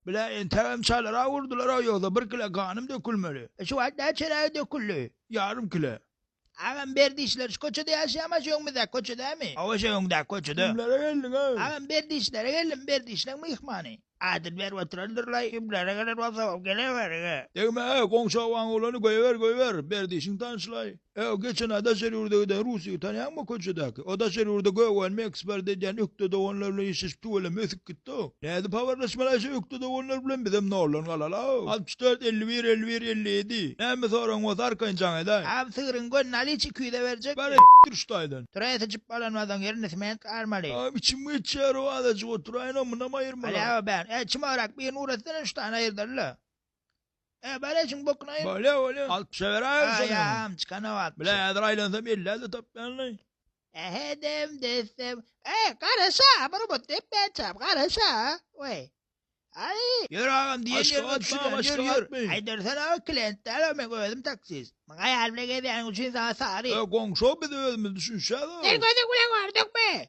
Bile entegem çalyrak urdular-a ýogsa bir kile ganym dökülmeli. Şu wagt nä çeregi döküldi? Ýarym kile. Agam berdişler şu köçede ýaşaýamaz şu öňümizdäki köçedämi? Hawa şu öňündäki köçede. Kimlere geldiňiz? Agam berdişlere geldim berdişleň myhmany. Adyny berip oturandyrlaý kimlere gelen bolsam gelewerin-ä. Degme-ä goňşy obaň oglany göýber göýber berdişiň tanyşlaý. Öo geçen aý daşary ýurda giden rus ýigit tanýaňmy köçedäki? O daşary ýurda göwänimi eksport edýän ökde doganlar bilen işleşip tüweleme ösüp gitdiow. Nädip habarlaşmaly aýşe ökde doganlar bilen bizem noldan galalaow. Altmyş dört elli bir elli bir elli ýedi Näme soragyň bolsa arkaýyn jaň edaý. Aw sygryň gönüni alyş iki ýüze berjek Bar mi. etdir şu taýdan. Turay syçyp bolanmadyň ýerini sement garmaly. Aw içim geçýärow azajyk oturaýynow munam aýyrmala. Alâ o bän. Äý çymagrak birini uratsana şu tany aýyrdalyla. E, bale şuň bokuna aýyr. Bale, bale. Alyp düşe beräýiň şony. Aýam çykana wagt. Bile häzir aýlansam elli-elli tapýanly. Ähedem dessem. E, garaş-a, bir umyt depmäçäm, garaş-a. Weý. Aý, ýör agam diýen ýeriňe düşüren, ýör, ýör. Aýdarsan aga klient däl-ow men özüm taksist. Maňa aýal bilen gezýäniň üçin saňa sary. E, goňşy-ow biz özümiz düşünişýäs-ow. Sen gözüň bilen gördüňmi?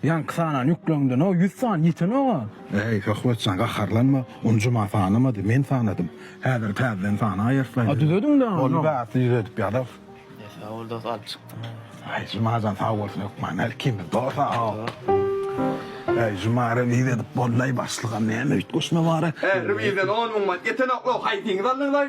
Ýaňky sanany ýükleňden-ow ýüz sany ýetenok-a. Äý, Söhbetjan, gaharlanma, ony Juma sanamady, men sanadym. Häzir täzeden sanaýarys-laý. A düzediň dagy. Boldy, bärsi düzedip ýazarys. Äý, sag bol dos, alyp çykdyň. Äý, Jumajan, sag bolsun hökman, her ikimiz dos-a-ow. Äý, Juma, rewiz edip bol-laý, başlygam näme üýtgeşme bar-a? Äý, rewizden on müň manat ýetenok-ow, haýsyňyz aldyňyz-laý?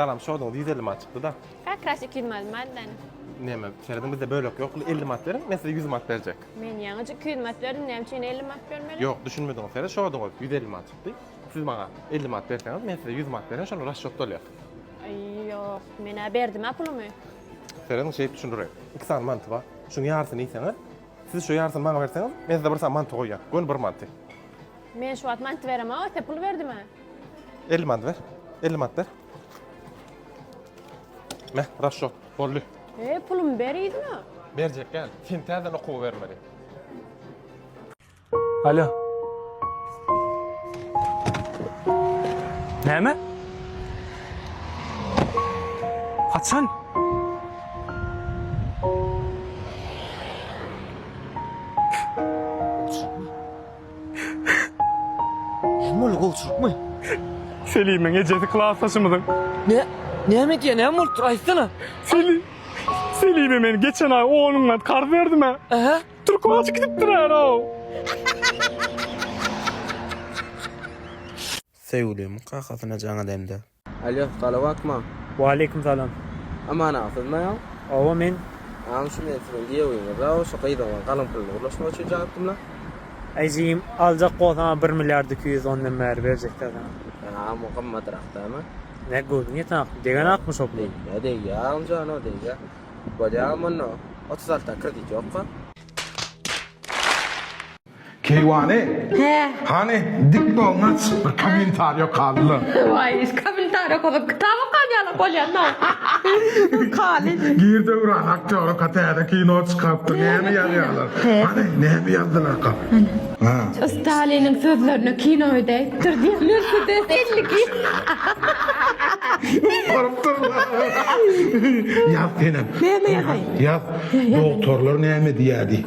Salam şoduňyz 150 manat çykdyda. Ka krasik 100 manat maddan. Neme, serediň bizde bölek yok. 50 manat beriň, men size 100 manat berjek. Men ýaňyja 200 manat berdim, näme üçin 50 manat bermeli? Yok, düşünmediňiz sere şoduňyz 150 manat çykdy. Siz maňa 50 manat berseňiz, men size 100 manat beren, şonu raşşot bolýar. Aý, yok, men-ä berdim-ä pulumy. Serediň şeýdip düşündireýin. 2 sany manty bar. Şuň ýarysyny iýseňiz, siz şu ýarysyny maňa berseňiz, men size bir sany manty goýýan. Göni bir manty. Men şu wagt manty beremok, size pul berdim-ä. 50 manat ber. 50 manat ber. Meh, raşot. Boldy. E, pulumy ber yzyna. Berjek gel. Sen täzeden okuwa bermeli. Alo. Näme? Haçan? Näme boldy, gowçylykmy? Selimiň ejesi klasdaşymyzyň. Nä, näme edýär, näme bolupdyr, aýtsana. Selim, Selime men geçen aý on müňat karz berdim-ä. Ähä? Türkmaçy gidipdir-ä-ow. Söýgülim kakasyna jaň edende. Alýo, salawakma. Waleýkim salam. Amanagsyzma ýa? Hawa men. Agam şu men siziň giýewiňizä şu gyzyň galyň puluny gurlaşmak üçin çagyrypdymla. Aý jigim aljak bolsaňa bir milliard iki ýüz ondan bäri berjekdä saňa. Agam o gymmadyrak dämi? Nä göwnüň ýeten akmy? Degen akmy şo pul? Degýä degýä agam jan o degýä. Bolýa agam onda otuz alta kredit ýokka. Keýwany? Hä. Hany, dik bolna çyk bir kommentariýa okalyla. Waý, kommentariýa okasak kitap okan ýaly bolýan-a. Okaly. Gir Döwran aktýorka täze kino çykarypdyr. Näme ýazýarlar? Hany, näme ýazdylarka? Hany. Staliniň sözlerine kino edäýipdir diýerlermidi? Elli gir. Baryp durlar. Ýaz senem. Näme ýazaýyn? Ýaz. Dogtorlar näme diýýär diý.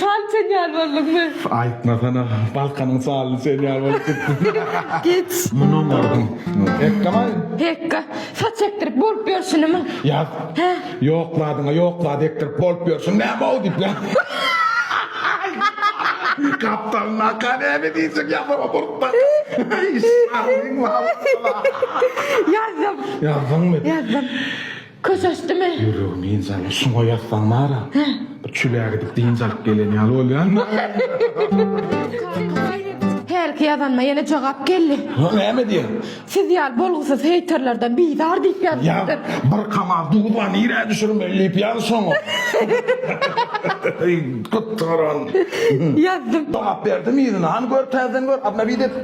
Çal sen ýaly bolduňmy? Aýtmasana, Balkanyň çalyny sen ýaly bolup gitdi. Geç. Munam gördüm. Pekgamaý. Pekga, saç ekdirip bolup ýörşünimi? Ýaz. Hä? Ýokladyňa ýoklady ekdirip bolup ýörşün näme-ow diýip ýaz. Gapdalyny aka näme diýjek ýazama murtda. Ýazdym. Ýazdyňmy? Ýazdym. Köşeşdimi? Ýüregim dynç aldy. Şuňa ýatsaň bar-a, bir çüle gidip dynç alyp gelen ýaly bolýan-da. Hälki ýazanyma ýene jogap geldi. Hä, näme diýýär? Siz ýaly bolgusyz heýterlerden bizar diýip ýazypdyr. Ýa, bir kamaz duz bar, nirä düşürmeli diýip ýaz şoňa. Gytgaran. Ýazdym. Jogap berdim yzyna. Hany gör, täzeden gör, obnowit et.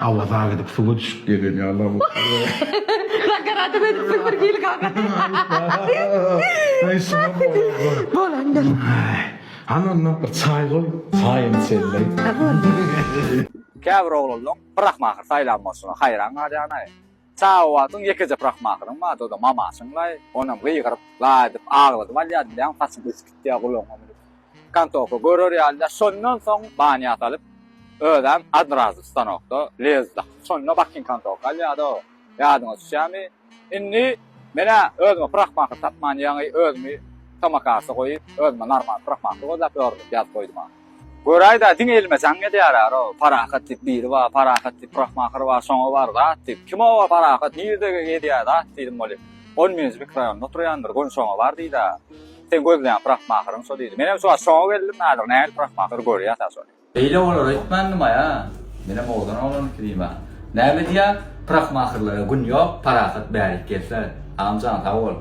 Awaza gidip suwa düşüp gelen ýaly bolupdyr. Nakarata edipsiň bir hili kaka. Aý şuňa bolupdyr. Bolandyr. Hany onda bir çaý goý, çaýyny içelileý. Käbir oglanlaň bir ahmakyr saýlan bolşuna haýran galýanaý. Sahawatyn ýekeje prahmahyryň bardy, o-da Mamaşyň-laý. Onam gygyryp, laý edip agladyp alýardy, bilýäňmi, saçym ösüp gitýär, gulagyma münüp, kantoka görer ýaly-da. Şondan soň banýa salyp, özem odrazu stanokda lez dakyp, şonda bakin kantoka alýardy-ow. Ýadyňa düşýärmi? Indi men-ä özüme prahmahyr tapman ýaňy özümi tomakarsa goýup, özüme normal prahmahyr gözläp ýörün diýip ýazyp goýdum-a. Göräýdä, diňe elime jaň gelýär-ä-ro, Parahat diýip biri bar, Parahat diýip Rahmahyr bar, şoňa bar zat diýip. Kim o-o Parahat, nirde gezýär zat diýdim welin. Ol meniň mikrorýonymda oturýandyr, göni şoňa bar diýdi-ä. Sen gözleýän Rahmahyryň şo diýdi. Menem şu wagt şoňa geldim, häzir nähili Rahmahyr görýär-ä şony. Beýle bolar öýtmändim-aý-a, menem owadan oglanyňky diýme. Näme diýýär, Rahmahyrlara gün ýok, Parahat bärik gelse. Agam jan, sag bol.